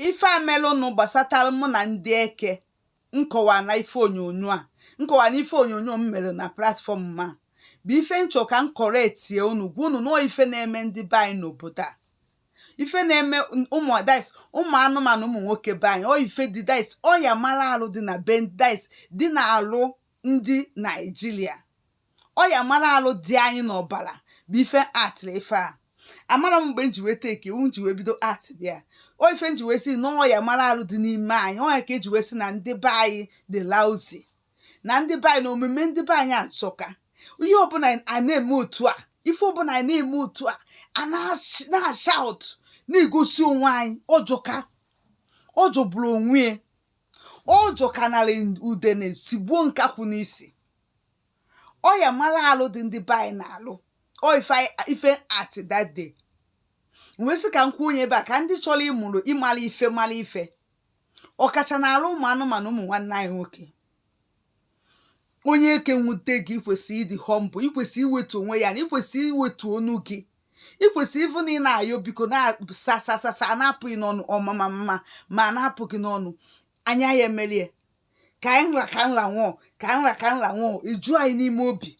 ife a melụnụ gbasatara mụ na ndị eke nkọwa na ife onyonyo a nkọwa na ife onyonyo m mere na platfọm ma bụ ife m chọ ka m kọrọ etie unu gwa unu na ọ ife na-eme ndị be anyị n'obodo a ife na-eme ụmụ dis ụmụ anụmanụ ụmụ nwoke be anyị ọ ife dị dis ọya mara alụ dị na be dis dị na alụ ndị naijiria ọya mara alụ dị anyị n'ọbara bụ ife m actịrị ife a amara m mgbe m ji wee take iwu m ji wee bido act bịa ọ ife m ji wee si na ọya mara alụ dị n'ime anyị ọ ya ka eji wee si na ndị be anyị dị lousy na ndị be anyị na omume ndị be anyị ajọka ihe ọbụla a na-eme otu a ife ọbụla anyị na-eme otu a a na-ashout na-egosi onwe anyị ọ jọka ọ jọgburu onwe ya ọ jọkanarị udene sigbuo nkakwụ n'isi ọya mara alụ dị ndị be anyị na-alụ ọ ife anyị- ife m act that day wee sị ka m kwuo onye ebe a ka ndị chọrọ ịmụrụ ịmara ife mara ife ọkacha na alụ ụmụ anụmanụ ụmụ nwanne anyị nwoke onye eke nwute gị ikwesịrị ịdị humble ikwesịrị iwetu onwe gị ana ikwesịrị iwetu onu gị ikwesịrị ịbụ na ị na-ayọ biko na sir sir sir sir na-apụ gị n'ọnụ ọ ma ma ma ma na-apụ gị n'ọnụ anya ya emelie ka anyị nra ka nra nwụọ ka anyị nra ka nra nwụọ eju anyị n'ime obi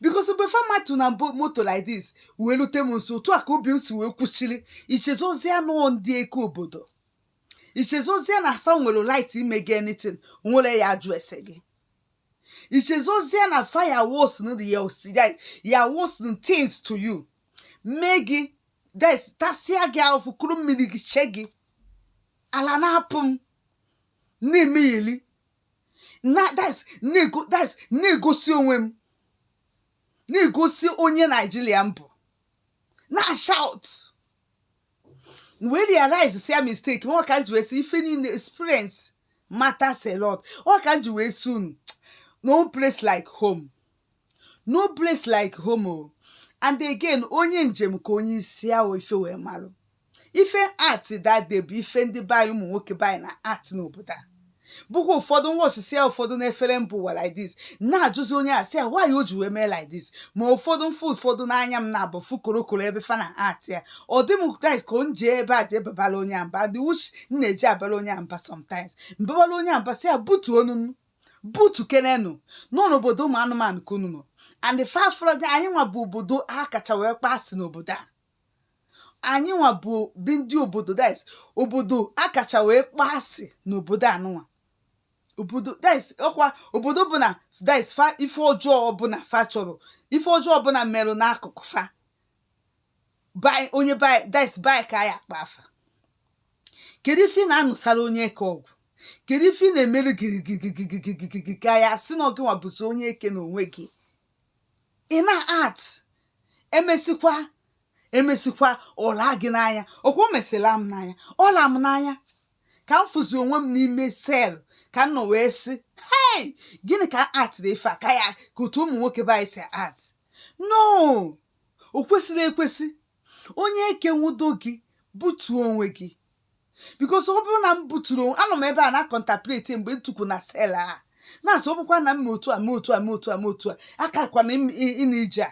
because mgbe fa matu na moto like this wee lute m nso otu a ka obi m si wee kwuchiri i chezozia na ọ ndị eke obodo i chezozia na fa nwere right ime gị anything o nwerọ ya-ajụ ese gị i chezozia na fa ya worsen the ya osi- ya- ya worsen things to you mee gị dis tasịa gị ahụfụ kuru mmiri gị che gị ala na-apụ m na-emegheli na-egosi onwe m na-egosi onye naijiria m bụ na-ashout wee realizesịa mistake m ọ ka m ji wee sị ife niile experience matters a lot ọ ka m ji wee sị unu no place like home no place like home o and again onye njem ka onye isi awọ ife wee malụ ife m act that day bụ ife ndị be anyị ụmụ nwoke be anyị na-act n'obodo a bụkwa ụfọdụ nwa osisi ya ụfọdụ na-efere mbụ ụwa like this na-ajụzi onye a sị ya why o ji wee mee like this ma ụfọdụ m fụ ụfọdụ n'anya m naabọ fụ korokoro ebe fa na-act ya ọ dị m guys ka m jee ebe a jee babara onye a mba dị wuch m na-eje abara onye a mba sometimes m babara onye a mba sị ya butuo onu unu butukenenụ onu n'obodo ụmụ anụmanụ ka unu nọ and fafrọdị anyị nwa bụ obodo ha kacha wee kpaa asị n'obodo a anyị nwa bụ dị ndị obodo dis obodo a kacha wee kpaa asị n'obodo anụnwa obodo dis ọkwa obodo bụ na dis fa ife ọjọọ ọbụla fa chọrọ ife ọjọọ ọbụla merụ n'akụkụ fa bai onye bai dis bai ka ya akpa afa kedu ife ị na-anụsara onye eke ọgụ kedu ife ị na-emere gịrịgịrịgịrịgịrịgịrị ka ya sị na ọ gịnwa bụzi onye eke na onwe gị ị na-act emesikwa emesikwa ọla gị n'anya okwu mesịla m n'anya ọla m n'anya ka m fụzi onwe m n'ime cell ka m nọ wee sị hei gịnị ka act dị ife a ka ya ka otu ụmụ nwoke be anyị si act no o kwesịrọ ekwesị onye eke nwudo gị butuo onwe gị because ọ bụrụ na m buturu onwe anọ m ebe a na-contemplate mgbe m tukwu na cell a na-asị ọ bụkwa na m ma otu a ma otu a ma otu a ma otu a akarakwana ịna ije a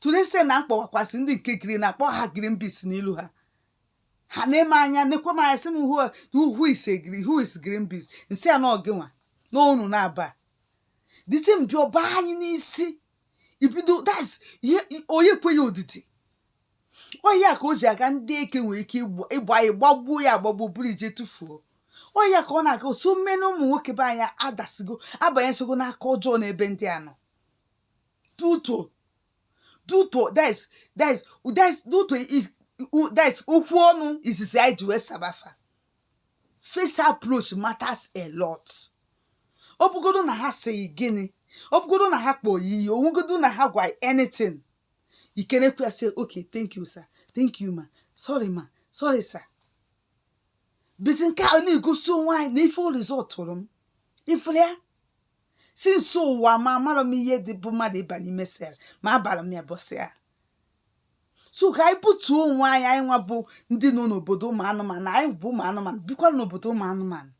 tulese na mkpọwakwasị ndị nke green na-akpọ ha green beans n'ilu ha ha na-eme anya nekwe m anya sị m who who is green who is green beans nsị a na ọ gị nwa n'onu na-aba dịtị mbịa ọ ba anyị n'isi ibido das ihe onye ekweghị odidi ọ ya ka o ji aga ndị eke nwere ike ịgba ịgba anyị gbagbuo ya agbagbuo buru je tụfuo ọ ya ka ọ na-aga too many ụmụ nwoke be anyị adasigo abanyechago n'aka ọjọọ n'ebe ndị a nọ due to due to that is that is that is due to i- u- that is okwu ọnụ izizi anyị ji wee saba fa first approach matters a lot ọ bụgodo na ha sị gị gịnị ọ bụgodo na ha kpọọ ya iyi ọ bụgodo na ha gwa ya anything i kenekwu ya sị okay thank you sir thank you ma sorry ma sorry sir but nke a na-egosi onwe anyị na ife ọ result tụrụ m ị fụrụ ya since ụwa m amarọ m ihe dị bụ mmadụ ịba n'ime cell ma abara m ya ụbọsị a so ka anyị butuo onwe anyị anyị nwa bụ ndị nọ n'obodo ụmụ anụmanụ anyị bụ ụmụ anụmanụ bikwa n'obodo ụmụ anụmanụ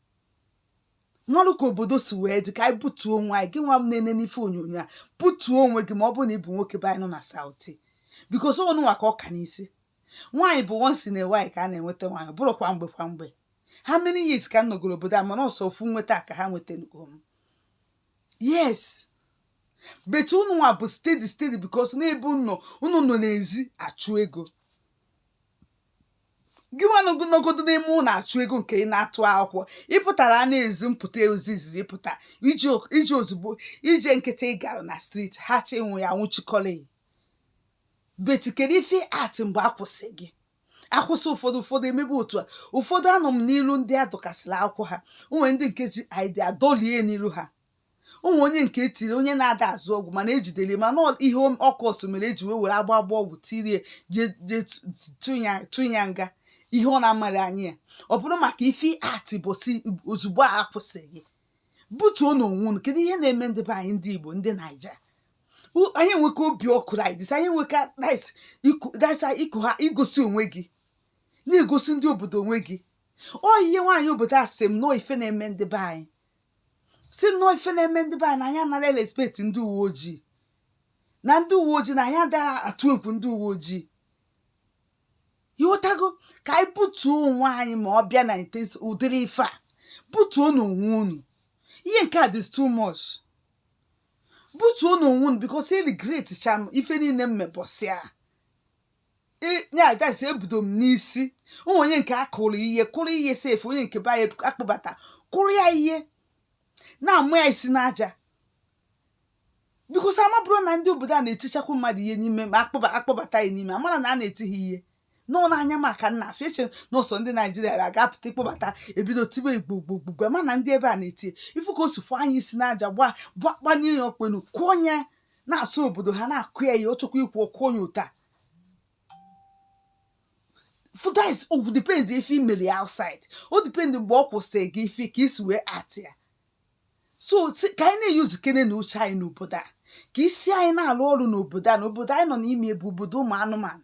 marụ ka obodo si wee dị ka anyị butuo onwe anyị gị nwa na-ene n'ife onyonyo a butuo onwe gị ma ọ bụrụ na ị bụ nwoke be anyị nọ na South because ọ unu nwa ka ọ ka n'isi nwaanyị bụ once in a while ka a na-enweta nwaanyị bụrụ kwa mgbe kwa mgbe how many years ka m nọgoro obodo a mana ọ sọ ofu nweta ka ha nwetanugo m yes but unu nwa bụ steady steady because n'ebe unu unu nọ n'ezi achụ ego gị nwa nọgodo n'ime ụlọ achụ ego nke ị na-atụ akwụkwọ ị pụtara n'ezi mpụta izizi ị pụta iji ozugbo ije nkịtị ị gara na street ha chi nwụ ya nwụchikọrọ but kedu ife act mgbe a kwụsị gị a kwụsị ụfọdụ ụfọdụ emebe otu a ụfọdụ anọ m n'ilu ndị a dọkasịrị akwụkwọ ha o nwere ndị nke ji ID adọlie n'ilu ha o nwe onye nke e tiri onye na-ada azụ ọgwụ mana e jidere mana ọ- ihe ọ cause mere e ji wee were agba agba ọgwụ tirie jee jee tu- tu- ya- tu ya nga ihe ọ na-amaghị anya ya ọ bụrụ maka ife act because ozugbo a kwụsị gị butuonụ onwe unu kedu ihe na-eme ndị be anyị ndị igbo ndị naija U- anyị enweka obi ọkụ like this anyị enweka rice iku rice iku ha igosi onwe gị na igosi ndị obodo onwe gị ọ ihe nwaanyị obodo a sị m na ọ ife na-eme ndị be anyị sị m na ọ ife na-eme ndị be anyị na anyị anara respect ndị uwe ojii na ndị uwe ojii na anyị adara atụ egwu ndị uwe ojii ịghọtago ka anyị butuo onwe anyị ma ọ bịa na ụdịrị ife a butuonụ onwe unu ihe nke a dị too much butuonụ onwe unu because e regret cha m ife niile m mebọsịa nya guys ebudo m n'isi ụmụ onye nke akụrụ ihe kụrụ ihe sef onye nke be anyị akpụbata kụrụ ya ihe na-amụ ya isi n'aja because a maburu na ndị obodo a na-etichakwu mmadụ ihe n'ime ma akpọba akpọbata ya n'ime a mara na a na-eti ha ihe n'ụlọ anya maka na afọ eche n'ụsọ ndị naijiria ga-apụta ịkpọbata ebido tibe igbo gbogbogbo mana ndị ebe a na-eti ị fụ ka o si kụọ ya isi n'aja gba gbakpanye ya ọkpenu kụọ ya na-asụ obodo ha na-akụ ya ya ọ chọkwa ikwu okwu onye ụta guys o depend ife i meli outside o depend mgbe ọ kwụsịrị gị ife ka isi wee atị ya so ka anyị na-use kenenụ uche anyị n'obodo a ka isi anyị na-alụ ọrụ n'obodo a na obodo anyị nọ n'ime bụ obodo ụmụ anụmanụ